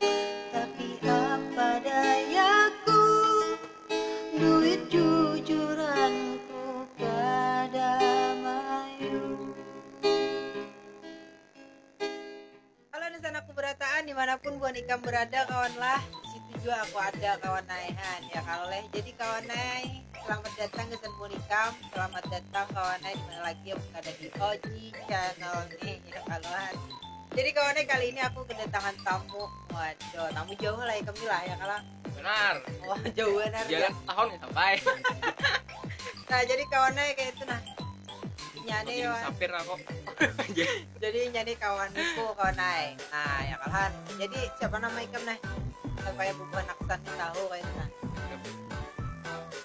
tapi apa dayaku duit jujuranku kada mayu halo nusanak kuberataan dimanapun buhan ikam berada kawan lah situ jua aku ada kawan ai han ya kalo leh jadi kawan ai selamat datang gasan buhan ikam selamat datang kawan ai dimana lagi amun kada di oji channel nih ya kalo han. Jadi kawannya kali ini aku kedatangan tamu. Waduh, tamu jauh lah ya kami lah ya kalau. Benar. Wah, jauh benar. Jalan ya. tahun ya sampai. nah, jadi kawannya kayak itu nah. Nyane ya. Sapir aku. jadi nyane kawan aku kawan naik. Nah, ya kalah. Jadi siapa nama ikam nah? Supaya bubuhan aku tahu kayak itu nah.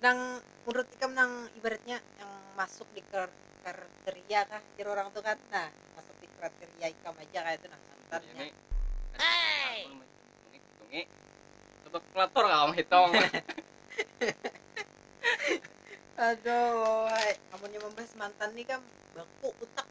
nang menurut ikam nang ibaratnya yang masuk di kriteria kah jar orang tu kan nah masuk di kriteria ikam aja kaya tu nah santannya tetap kelator kau menghitung aduh amunnya membahas mantan ni kam baku utak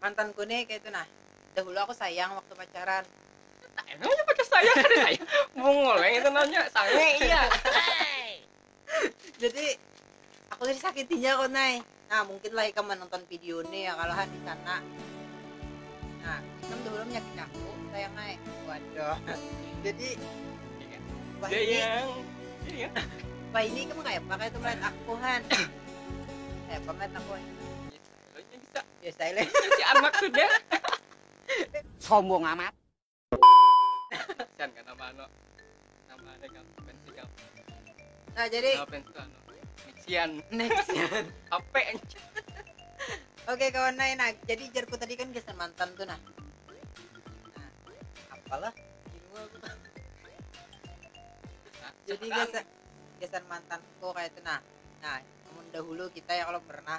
Mantanku nih kaitu nah. Dahulu aku sayang waktu pacaran. Tanya nanya pacar sayang kada sayang. Bungul ai itu nanya, sange iya. Jadi aku nih disakitinya kok nay. Nah mungkin lah ikam manonton video nih ya kalo ha di sana. Nah ikam dahulu menyakiti aku sayang nay. Waduh. Jadi wahini wahini ikam kayapa kaya itu melihat aku han. Kayapa melihat aku. Sombong amat. Nah jadi Oke kawan nah, nah jadi jarku tadi kan gasan mantan tu nah apalah jadi gasan gasan mantanku kaya tu nah nah amun dahulu kita ya kalo pernah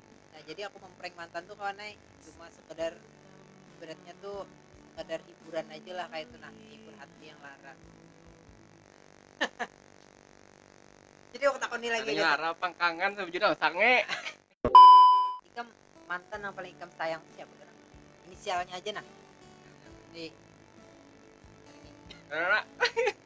nah jadi aku memprank mantan tuh kawan naik cuma sekedar beratnya tuh sekedar hiburan aja lah kayak itu nah hibur hati yang lara jadi aku takoni lagi Anaknya lara pangkangan sama judul sange ikam mantan yang paling ikam sayang siapa kira inisialnya aja nah di Rara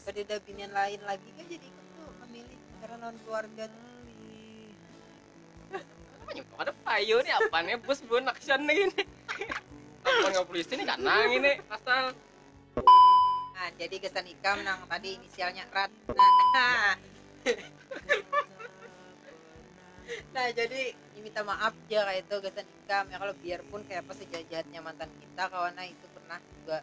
Kadada binian lain lagi kah jadi ikam tu mamilih karena lawan kaluarga tu? Kenapa jua kada payu nih apa nih bus bun action nih ini. Laporan ka polisi nih kanang ini pasal. Nah, jadi gasan ikam nang tadi inisialnya rat. Nah, nah jadi minta maaf ja kaya itu gasan ikam ya kalo biarpun kayapa sejahat-jahatnya mantan kita kawan nah itu pernah juga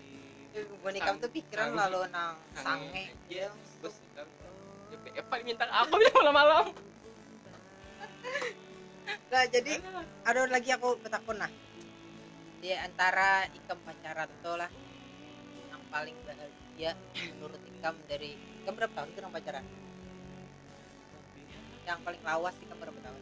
Bonikam tuh pikiran lalu nang sange. Epa diminta ke aku bila malam-malam. Nah, jadi ada lagi aku betakun nah. Di antara ikam pacaran tuh lah yang paling bahagia menurut ikam dari ikam berapa tahun tuh nang pacaran? Yang paling lawas ikam berapa tahun?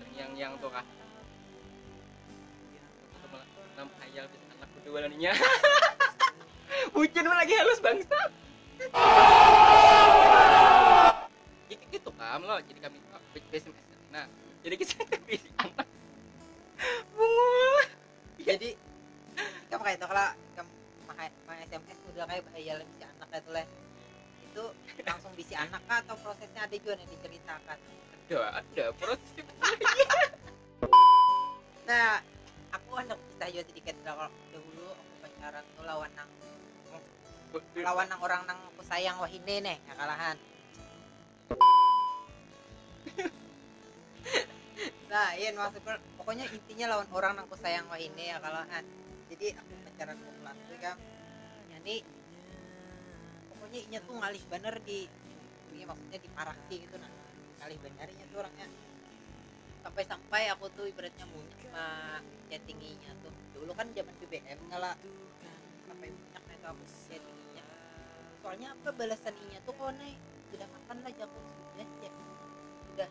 terngiang-ngiang tuh kah enam hayal bisa anak berdua laninya bucin lagi halus bangsa itu itu kam lo jadi kami PSM nah jadi kita pilih anak bungul jadi kamu kayak itu kalau kamu pakai SMS udah kayak hayal bisa anak itu leh itu langsung bisi anak kah atau prosesnya ada juga nih diceritakan ada ada prosesnya nah aku anak kisah juga sedikit kalau dahulu aku pacaran tuh lawan nang lawan nang orang nang aku sayang wahini nih ya kalahan nah iya maksudku pokoknya intinya lawan orang nang aku sayang wahini ya kalahan jadi aku pacaran aku kelas tuh kan jadi pokoknya inya tuh ngalih bener di ini maksudnya di paraki gitu nah ngalih bener inya tuh orangnya sampai-sampai aku tuh ibaratnya munyak pak chattinginya tuh dulu kan zaman BBM ngala sampai munyak itu aku chattinginya soalnya apa balasan inya tuh kau naik sudah makan lah jago sudah ya sudah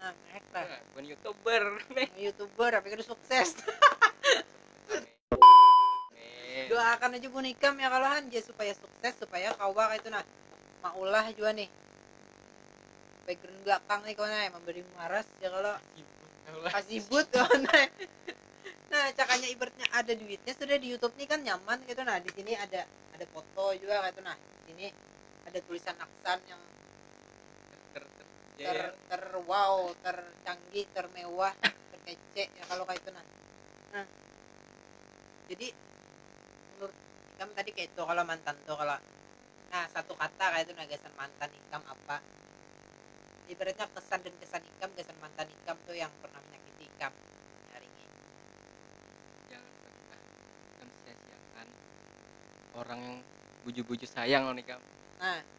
nah eta nah, bukan youtuber nah, youtuber tapi kudu sukses doakan aja bu nikam ya kalau hanje supaya sukses supaya kawa itu nah maulah juga nih background belakang nih kawan ya memberi waras ya kalau kasibut kawan nah cakanya ibaratnya ada duitnya sudah di YouTube nih kan nyaman gitu nah di sini ada ada foto juga gitu nah di sini ada tulisan aksan yang ter Iya, iya. ter wow tercanggih termewah terkece ya kalau kayak itu nah nah jadi menurut ikam tadi kayak itu kalau mantan tuh kalau nah satu kata kayak itu nah gasan mantan ikam apa ibaratnya kesan dan kesan ikam gasan mantan ikam tuh yang pernah menyakiti ikam hari ini jangan pernah mensia-siakan orang yang buju-buju sayang lawan ikam nah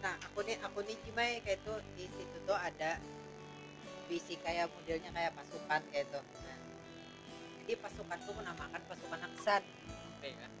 Nah, aku nih aku nih Cimai kayak itu di situ tuh ada bisi kayak modelnya kayak pasukan kayak itu. Nah, jadi pasukan tuh menamakan pasukan Aksan. Oke ya.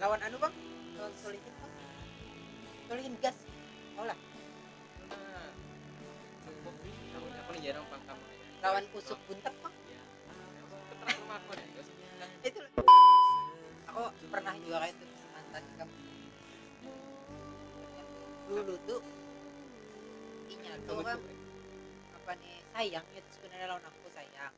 lawan anu bang lawan solihin bang solihin gas mau lah cukup lawan aku nih jarang pangkam lawan usuk buntek bang ya keterak rumah aku nih usuk buntek itu aku pernah juga kayak itu mantan ikam dulu tuh inya tuh kan apa nih sayang itu sebenarnya lawan aku sayang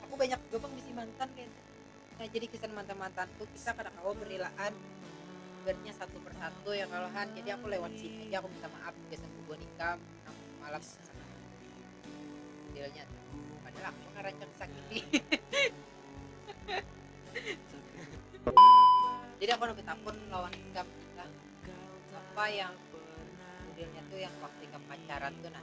aku banyak juga bang bisi mantan kayak gitu. nah jadi kisah mantan mantan tuh kita kada kawa berilaan bernya satu persatu ya kalau han jadi aku lewat sini aja aku minta maaf biasa gue nikah malam sana dealnya padahal aku ngarancang sakit jadi aku nabi takut lawan nikah apa yang modelnya tuh yang waktu nikah pacaran tuh nah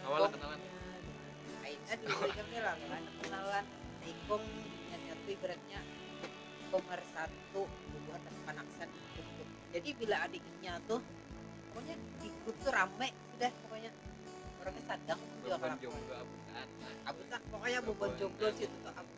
Kawalan kenalan. Aida di Ujung Hilang kan kenalan Ikung nyanyatu ibaratnya nomor satu bubuhan tapi panaksan ikung tuh jadi bila ada inya tuh pokoknya di grup tuh rame sudah pokoknya orangnya sadang juga Beban kelakuan jomblo abutan. abutan pokoknya bubuhan jomblo situ tuh abutan